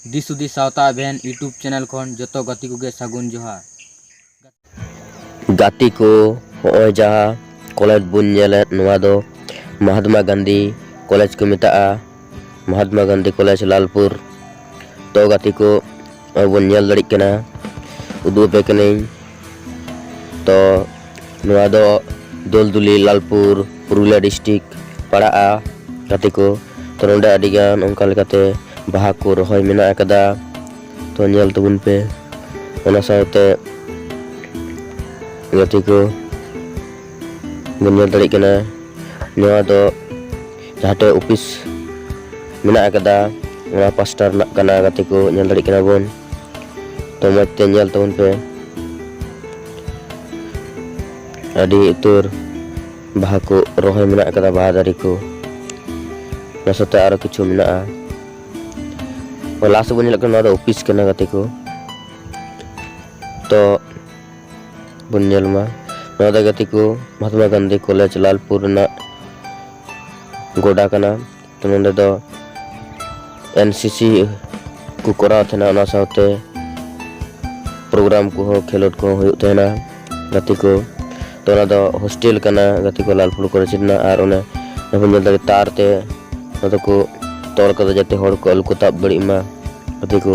ᱫᱤᱥ ᱦᱩᱫᱤᱥ ᱥᱟᱶᱛᱟ ᱟᱵᱷᱮᱱ ᱤᱭᱩᱴᱩᱵᱽ ᱪᱮᱱᱮᱞ ᱠᱷᱚᱱ ᱡᱚᱛᱚ ᱜᱟᱛᱮ ᱠᱚᱜᱮ ᱥᱟᱹᱜᱩᱱ ᱡᱚᱦᱟᱨ ᱜᱟᱛᱮ ᱠᱚ ᱦᱚᱸᱜᱼᱚᱭ ᱡᱟᱦᱟᱸ ᱠᱚᱞᱮᱡᱽ ᱵᱚᱱ ᱧᱮᱞᱮᱫ ᱱᱚᱣᱟ ᱫᱚ ᱢᱚᱦᱟᱛᱢᱟ ᱜᱟᱱᱫᱷᱤ ᱠᱚᱞᱮᱡᱽ ᱠᱚ ᱢᱮᱛᱟᱜᱼᱟ ᱢᱚᱦᱟᱛᱢᱟ ᱜᱟᱱᱫᱷᱤ ᱠᱚᱞᱮᱡᱽ ᱞᱟᱞᱯᱩᱨ ᱛᱚ ᱜᱟᱛᱮ ᱠᱚ ᱱᱚᱜᱼᱚᱭ ᱵᱚᱱ ᱧᱮᱞ ᱫᱟᱲᱮᱜ ᱠᱟᱱᱟ ᱩᱫᱩᱜ ᱟᱯᱮ ᱠᱟᱹᱱᱟᱹᱧ ᱛᱚ ᱱᱚᱣᱟ ᱫᱚ ᱫᱳᱞᱫᱩᱞᱤ ᱞᱟᱞᱯᱩᱨ ᱯᱩᱨᱩᱞᱤᱭᱟ ᱰᱤᱥᱴᱤᱠ ᱯᱟᱲᱟᱜᱼᱟ ᱜᱟᱛᱮ ᱠᱚ ᱛᱚ ᱱᱚᱰᱮ ᱟᱹᱰᱤᱜᱟᱱ ᱚᱱᱠᱟ ᱞᱮᱠᱟᱛᱮ ᱵᱟᱦᱟ ᱠᱚ ᱨᱚᱦᱚᱭ ᱢᱮᱱᱟᱜ ᱟᱠᱟᱫᱟ ᱛᱚ ᱧᱮᱞ ᱛᱟᱵᱚᱱ ᱯᱮ ᱚᱱᱟ ᱥᱟᱶᱛᱮ ᱜᱟᱛᱮ ᱠᱚ ᱵᱚᱱ ᱧᱮᱞ ᱫᱟᱲᱮᱜ ᱠᱟᱱᱟ ᱱᱚᱣᱟ ᱫᱚ ᱡᱟᱦᱟᱸᱴᱮ ᱚᱯᱷᱤᱥ ᱢᱮᱱᱟᱜ ᱟᱠᱟᱫᱟ ᱚᱱᱟ ᱯᱟᱥᱴᱟ ᱨᱮᱱᱟᱜ ᱠᱟᱱᱟ ᱜᱟᱛᱮ ᱠᱚ ᱧᱮᱞ ᱫᱟᱲᱮᱭᱟᱜ ᱠᱟᱱᱟ ᱵᱚᱱ ᱛᱚ ᱢᱚᱡᱽ ᱛᱮ ᱧᱮᱞ ᱛᱟᱵᱚᱱ ᱯᱮ ᱟᱹᱰᱤ ᱩᱛᱟᱹᱨ ᱵᱟᱦᱟ ᱠᱚ ᱨᱚᱦᱚᱭ ᱢᱮᱱᱟᱜ ᱟᱠᱟᱫᱟ ᱵᱟᱦᱟ ᱫᱟᱨᱮ ᱠᱚ ᱚᱱᱟ ᱥᱟᱶᱛᱮ ᱟᱨᱚ ᱠᱤᱪᱷᱩ ᱢᱮᱱᱟᱜᱼᱟ ᱞᱟᱦᱟ ᱥᱮᱫ ᱵᱚᱱ ᱧᱮᱞᱮᱫ ᱠᱟᱱᱟ ᱱᱚᱣᱟ ᱫᱚ ᱚᱯᱷᱤᱥ ᱠᱟᱱᱟ ᱜᱟᱛᱮ ᱠᱚ ᱛᱚ ᱵᱚᱱ ᱧᱮᱞ ᱢᱟ ᱱᱚᱣᱟ ᱫᱚ ᱜᱟᱛᱮ ᱠᱚ ᱢᱚᱦᱟᱛᱢᱟ ᱜᱟᱱᱫᱷᱤ ᱠᱚᱞᱮᱡᱽ ᱞᱟᱞᱯᱩᱨ ᱨᱮᱱᱟᱜ ᱜᱚᱰᱟ ᱠᱟᱱᱟ ᱛᱚ ᱱᱚᱸᱰᱮ ᱫᱚ ᱮᱱ ᱥᱤ ᱥᱤ ᱠᱚ ᱠᱚᱨᱟᱣ ᱛᱟᱦᱮᱱᱟ ᱚᱱᱟ ᱥᱟᱶᱛᱮ ᱯᱨᱳᱜᱨᱟᱢ ᱠᱚᱦᱚᱸ ᱠᱷᱮᱞᱳᱰ ᱠᱚᱦᱚᱸ ᱦᱩᱭᱩᱜ ᱛᱟᱦᱮᱱᱟ ᱜᱟᱛᱮ ᱠᱚ ᱛᱚ ᱚᱱᱟ ᱫᱚ ᱦᱳᱥᱴᱮᱞ ᱠᱟᱱᱟ ᱜᱟᱛᱮ ᱠᱚ ᱞᱟᱞᱯᱩᱨ ᱠᱚᱞᱮᱡᱽ ᱨᱮᱱᱟᱜ ᱟᱨ ᱚᱱᱮ ᱵᱚᱱ ᱧᱮᱞ ᱫᱟᱲᱮ ᱛᱟᱨ ᱛᱮ ᱚᱱᱟ ᱫᱚᱠᱚ ᱛᱚᱞ ᱠᱟᱫᱟ ᱡᱟᱛᱮ ᱦᱚᱲ ᱠᱚ ᱟᱞᱚ ᱠᱚ ᱛᱟᱵ ᱫᱟᱲᱮᱜ ᱢᱟ ᱜᱟᱛᱮ ᱠᱚ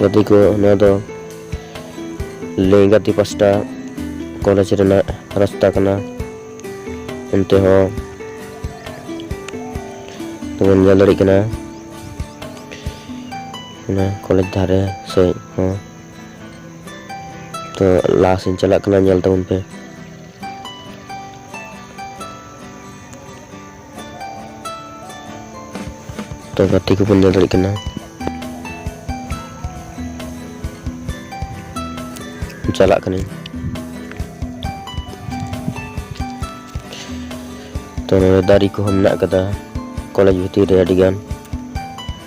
ᱜᱟᱛᱮ ᱠᱚ ᱱᱚᱣᱟ ᱫᱚ ᱞᱮᱸᱜᱟᱛᱤ ᱯᱟᱥᱴᱟ ᱠᱚᱞᱮᱡᱽ ᱨᱮᱱᱟᱜ ᱨᱟᱥᱛᱟ ᱠᱟᱱᱟ ᱚᱱᱛᱮ ᱦᱚᱸ ᱛᱚᱵᱚᱱ ᱧᱮᱞ ᱫᱟᱲᱮᱭᱟᱜ ᱠᱟᱱᱟ ᱚᱱᱟ ᱠᱚᱞᱮᱡᱽ ᱫᱷᱟᱨᱮ ᱥᱮᱡ ᱦᱚᱸ ᱛᱚ ᱞᱟᱦᱟ ᱥᱮᱧ ᱪᱟᱞᱟᱜ ᱠᱟᱱᱟ ᱧᱮᱞ ᱛᱟᱵᱚᱱ ᱯᱮ ᱛᱚ ᱜᱟᱛᱮ ᱠᱚᱵᱚᱱ ᱧᱮᱞ ᱫᱟᱲᱮᱭᱟᱜ ᱠᱟᱱᱟ ᱪᱟᱞᱟᱜ ᱠᱟᱹᱱᱟᱹᱧ ᱛᱚ ᱱᱚᱰᱮ ᱫᱟᱨᱮ ᱠᱚᱦᱚᱸ ᱢᱮᱱᱟᱜ ᱟᱠᱟᱫᱟ ᱠᱚᱞᱮᱡᱽ ᱵᱷᱤᱛᱤᱨ ᱨᱮ ᱟᱹᱰᱤᱜᱟᱱ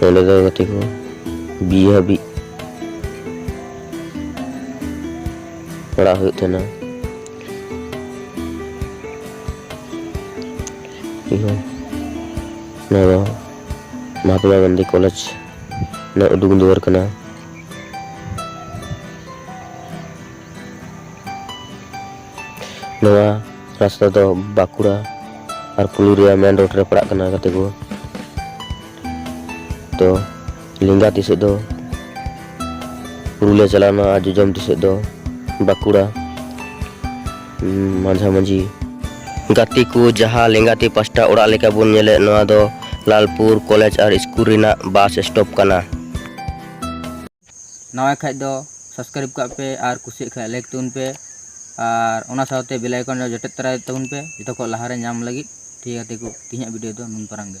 ᱦᱮᱞᱳ ᱫᱟᱭ ᱜᱟᱛᱮ ᱠᱚ ᱵᱤ ᱦᱟᱹᱵᱤᱡ ᱯᱟᱲᱟᱜ ᱦᱩᱭᱩᱜ ᱛᱟᱦᱮᱱᱟ ᱱᱚᱣᱟ ᱫᱚ ᱢᱚᱦᱟᱛᱢᱟ ᱜᱟᱱᱫᱷᱤ ᱠᱚᱞᱮᱡᱽ ᱨᱮᱱᱟᱜ ᱩᱫᱩᱜ ᱫᱩᱣᱟᱹᱨ ᱠᱟᱱᱟ ᱱᱚᱣᱟ ᱨᱟᱥᱛᱟ ᱫᱚ ᱵᱟᱸᱠᱩᱲᱟ ᱟᱨ ᱯᱩᱞᱩᱨᱤᱭᱟ ᱢᱮᱱ ᱨᱳᱰ ᱨᱮ ᱯᱟᱲᱟᱜ ᱠᱟᱱᱟ ᱜᱟᱛᱮ ᱠᱚ ᱛᱚ ᱞᱮᱸᱜᱟ ᱛᱤ ᱥᱮᱫ ᱫᱚ ᱯᱩᱨᱩᱞᱤᱭᱟ ᱪᱟᱞᱟᱣᱱᱟ ᱟᱨ ᱡᱚᱡᱚᱢ ᱛᱤ ᱥᱮᱫ ᱫᱚ ᱵᱟᱸᱠᱩᱲᱟ ᱢᱟᱡᱷᱟ ᱢᱟᱹᱡᱷᱤ ᱜᱟᱛᱮ ᱠᱚ ᱡᱟᱦᱟᱸ ᱞᱮᱸᱜᱟ ᱛᱤ ᱯᱟᱥᱴᱟ ᱚᱲᱟᱜ ᱞᱮᱠᱟ ᱵᱚᱱ ᱧᱮᱞᱮᱫ ᱱᱚᱣᱟ ᱫᱚ ᱞᱟᱞᱯᱩᱨ ᱠᱚᱞᱮᱡᱽ ᱟᱨ ᱥᱠᱩᱞ ᱨᱮᱱᱟᱜ ᱵᱟᱥ ᱥᱴᱚᱯ ᱠᱟᱱᱟ ᱱᱟᱣᱟᱭ ᱠᱷᱟᱡ ᱫᱚ ᱥᱟᱵᱥᱠᱨᱟᱭᱤᱵᱽ ᱠᱟᱜ ᱯᱮ ᱟᱨ ᱠᱩᱥᱤᱭᱟᱜ ᱠᱷᱟᱡ ᱞᱟᱭᱤᱠ ᱛᱟᱵᱚᱱ ᱯᱮ ᱟᱨ ᱚᱱᱟ ᱥᱟᱶᱛᱮ ᱵᱮᱞ ᱟᱭᱠᱚᱱ ᱨᱮ ᱡᱚᱴᱮᱫ ᱛᱚᱨᱟᱭ ᱛᱟᱵᱚᱱ ᱯᱮ ᱡᱚᱛᱚ ᱠᱷᱚᱡ ᱞᱟᱦᱟᱨᱮ ᱧᱟᱢ ᱞᱟᱹᱜᱤᱫ ᱴᱷᱤᱠ ᱜᱮᱭᱟ ᱜᱟᱛᱮ ᱠᱚ ᱛᱮᱦᱮᱧᱟᱜ ᱵᱷᱤᱰᱤᱭᱳ ᱫᱚ ᱱᱩᱱ ᱯᱟᱨᱟᱝ ᱜᱮ